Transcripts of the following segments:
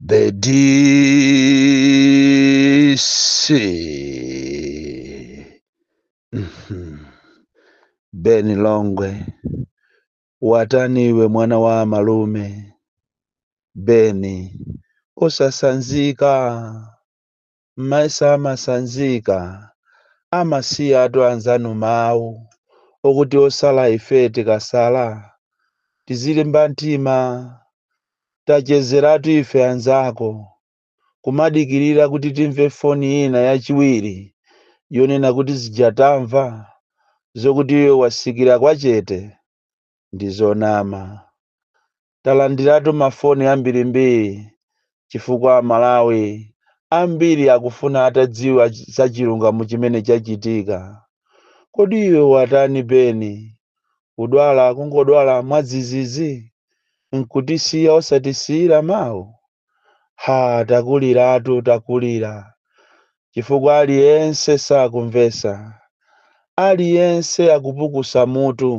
The DC. Mhm. Beni Longwe, watani iwe mwana wa malume? Beni, usasanzika. mayesa amasanzika amasiyatu anzanu mawu okuti osala ife tikasala tizilimba mtima tachezeratu ife anzako kumadikirira kuti timve foni ina yachiwiri yonena kuti zija tamva zokuti iwe wasikira kwachete ndi zonama Talandiratu mafoni ambirimbiri chifukwa Amalawi ambiri akufuna atadziwa za chilungamo chimene chachitika. Kodi iwe watani Beni? Udwala kungodwala mwadzidzidzi nkutisiya osatisiyira mawu? Ha, takuliratu, takulira, chifukwa aliyense sakumvetsa. Aliyense akupukusa mutu,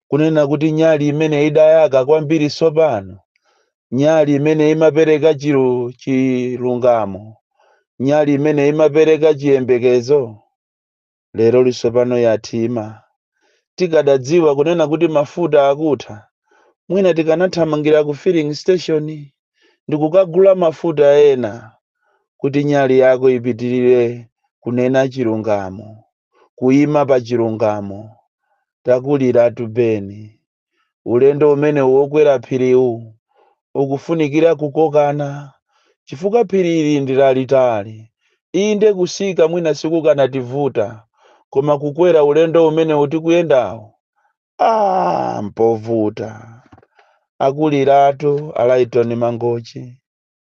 kunena kuti nyali imene idayaka kwambiri tsopano, nyali imene imapereka chilungamo, nyali imene imapereka chiyembekezo, lero litsopano yathima tikadadziwa kunena kuti mafuta akutha mwina tikanathamangira ku filling station ndikukagula mafuta ena kuti nyali yako ipitirire kunena chilungamo kuima pa chilungamo takuliratu beni ulendo umene wokwera phiriwu ukufunikira kukokana chifukwa phiri ili ndi lalitali inde kutsika mwina sikukanativuta koma kukwera ulendo umene tikuyendawu a mpovuta akuliratu alaitoni mangochi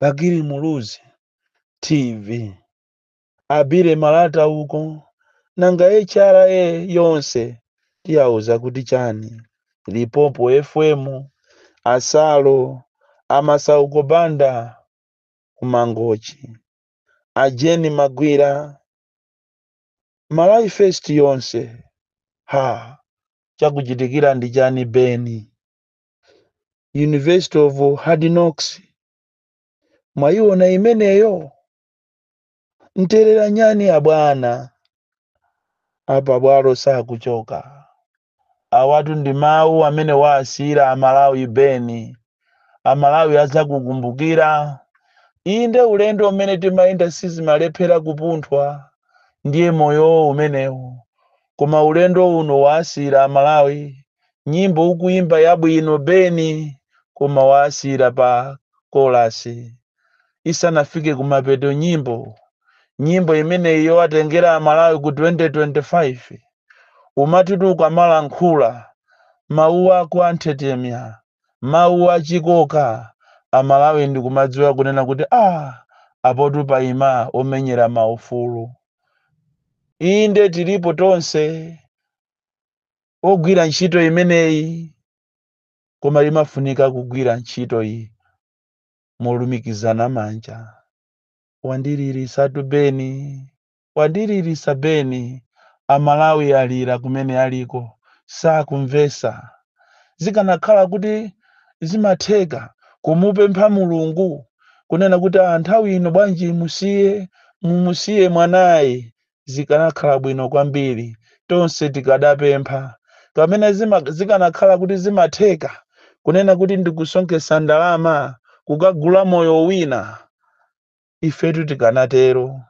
Bakili Muluzi TV a Billy Malata uko nanga HRA yonse tiyauza kuti chani Lipopo FM a Salo a Masauko Banda ku Mangochi a Jeni Magwira Malawi First yonse ha chakuchitikira ndi chani Beni University of Hard Knocks mwayiona imeneyo nterera nyani abwana a pabwalo sakuchoka awatu ndi mawu amene wawasiyira amalawi beni amalawi adzakukumbukira inde ulendo umene timayenda sizimalephera kupunthwa ndiye moyowo umenewo koma ulendo uno wawasiyira amalawi nyimbo ukuimba yabwino beni koma wasiyira pa kolasi isanafike kumapeto nyimbo nyimbo imeneyi yowatengera amalawi ku 2025 umatitu ukamalankhula mawu ako anthetemya mawu achikoka amalawi ndikumadziwa kunena kuti ah apotu paima omenyera maufulu inde tilipo tonse ogwira ntchito imeneyi koma limafunika kugwira ntchito iyi molumikizana manja wandilirisatu beni wandilirisa beni amalawi alira kumene aliko sakumvesa zikanakhala kuti zimatheka kumupempha mulungu kunena kuti "Ah, nthawi ino bwanji musiye mumusiye mwanayi zikanakhala bwino kwambiri tonse tikadapempha kamene zima, zikanakhala kuti zimatheka kunena kuti ndikusonkhetsa ndalama kukagula moyo wina ifetu tikanatero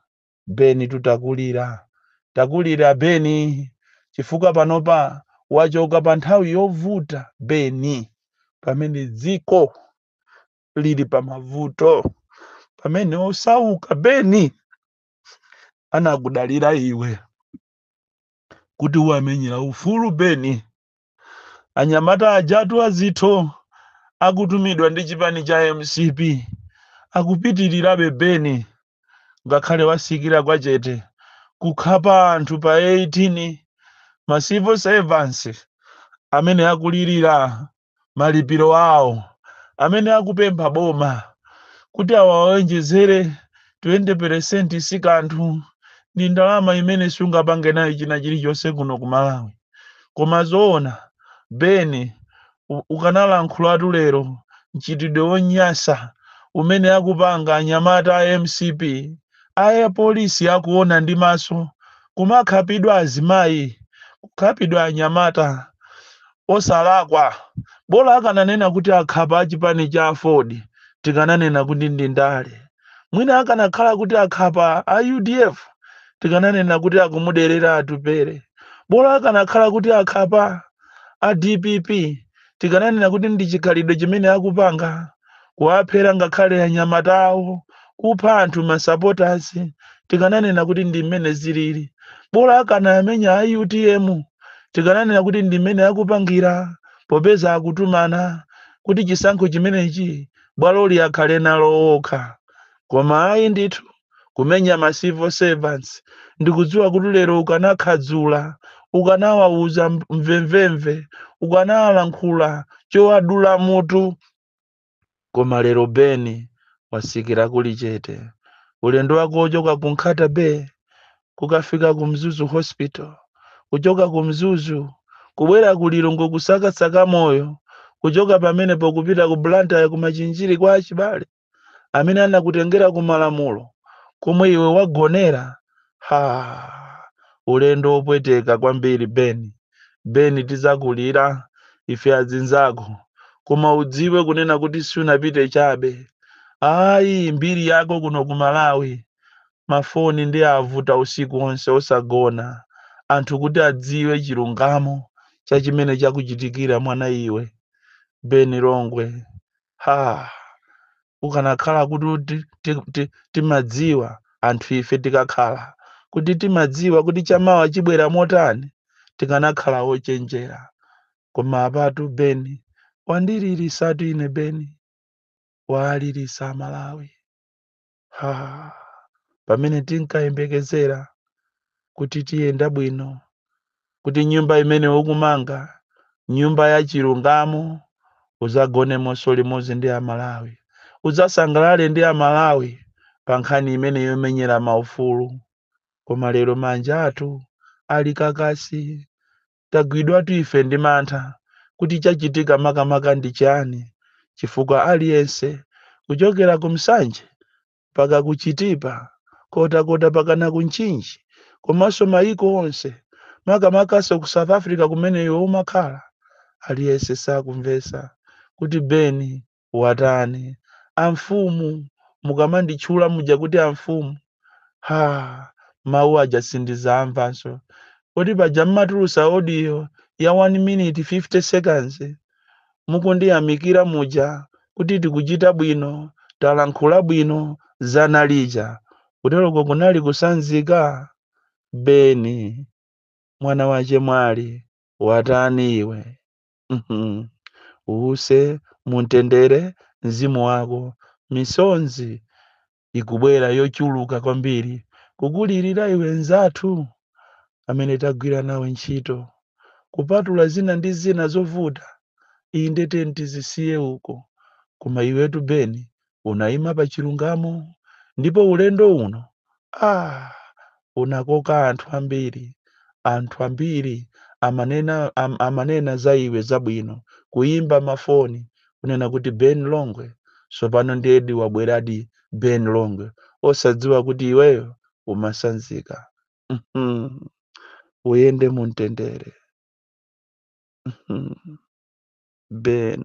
beni tutakulira takulira beni chifukwa panopa wachoka pa nthawi yovuta beni pamene dziko lili pa mavuto pamene osauka beni anakudalira iwe kuti uwamenyera ufulu beni anyamata ajatu azikwanje akutumidwa ndi chipani cha mcp akupitirirabe beni ngakhale watsikira kwa chete kukhapa anthu pa 18 ma civil servants amene akulirira malipiro awo amene akupempha boma kuti awawonjezere 20% si kanthu ndi ndalama imene sungapange nayo china chilichonse kuno ku malawi koma zoona beni u- ukanalankhulatu lero mchitidwe wonyasa umene akupanga anyamata a mcp aja apolisi akuona ndi maso kumakhapidwa azimayi, kukhapidwa anyamata osalakwa. Bola akananena kuti akhapa achipani cha aford tikananena kuti ndi ndale. Mwina akanakhala kuti akhapa a udf tikananena kuti akumuderera Atupele. Bola akanakhala kuti akhapa a dpp tikananena kuti ndi chikhalidwe chimene akupanga kuwaphera ngakhale anyamata awo kupha anthu masupporters tikananena kuti ndi mmene zilili bola akanamenya a utm tikananena kuti ndi mmene akupangira popeza akutumana kuti chisankho chimenechi bwaloli akhale nalo okha koma ayi ndithu kumenya ma civil servants ndikudziwa kuti lero ukanakhadzula ukanawawuza mvemvemve ukanawalankhula chowadula mutu koma lero beni wasikira kuli chete ulendo wako wochoka ku nkhata bay kukafika ku mzuzu hospital kuchoka ku mzuzu kubwera ku lilongwe kusakasaka moyo kuchoka pamenepo kupita ku blantyre kumachinjiri kwa achibale amene anakutengera ku malamulo komwe iwe wagonera ha ulendo wopweteka kwambiri beni beni tizakulira ife adzinzako koma udziwe kunena kuti sunapite chabe ayi mbiri yako kuno ku malawi mafoni ndi avuta usiku wonse osagona anthu kuti adziwe chilungamo cha chimene chakuchitikira mwana iwe beni longwe Ha! Ukanakhala kuti uti- ti- ti- timadziwa anthu ife tikakhala kuti timadziwa kuti chamawa chibwera motani tikanakhala ochenjera. Koma apatu Beni wandililisatu ine Beni waalilisa Amalawi. ha pamene tinkayembekezera kuti tiyenda bwino kuti nyumba imene ukumanga nyumba ya chilungamo udzagonemonso limodzi ndi amalawi udzasangalale ndi amalawi pa nkhani imene yomenyera maufulu koma lero manja athu ali kakasi tagwidwatu ife ndi mantha kuti chachitika makamaka ndi chani chifukwa aliyense kuchokera ku Nsanje mpaka ku Chitipa Nkhotakota mpakana ku Mchinji komanso mayiko onse makamakanso ku South Africa kumene iwe umakhala aliyense sakumvetsa kuti Beni watani? Amfumu, mukamanditchula muja kuti amfumu, ha, mawu aja sindizamvanso. Kodi paja mmatulusa audio ya 1 minute 50 seconds mukundiyamikira muja kuti tikuchita bwino, talankhula bwino, zana lija? Kuteroko kunali kusanzika? Beni, mwana wa chemwali, watani iwe? Mhm. Uuse mumtendere mzimu wako. Misonzi ikubwera yochuluka kwambiri kukulirira iwe mnzathu amene tagwira nawe ntchito. Kupatula zina ndi zina zovuta, inde tiyeni tizisiye uko. Koma iwetu Beni, unaima pa chilungamo ndipo ulendo uno ah, unakoka anthu ambiri anthu ambiri amanena, am, amanena za iwe zabwino kuyimba mafoni kunena kuti ben longwe tsopano ndiyedi wabweradi ben longwe osadziwa kuti iweyo umasanzika Mhm. uyende mu mtendere Mhm. ben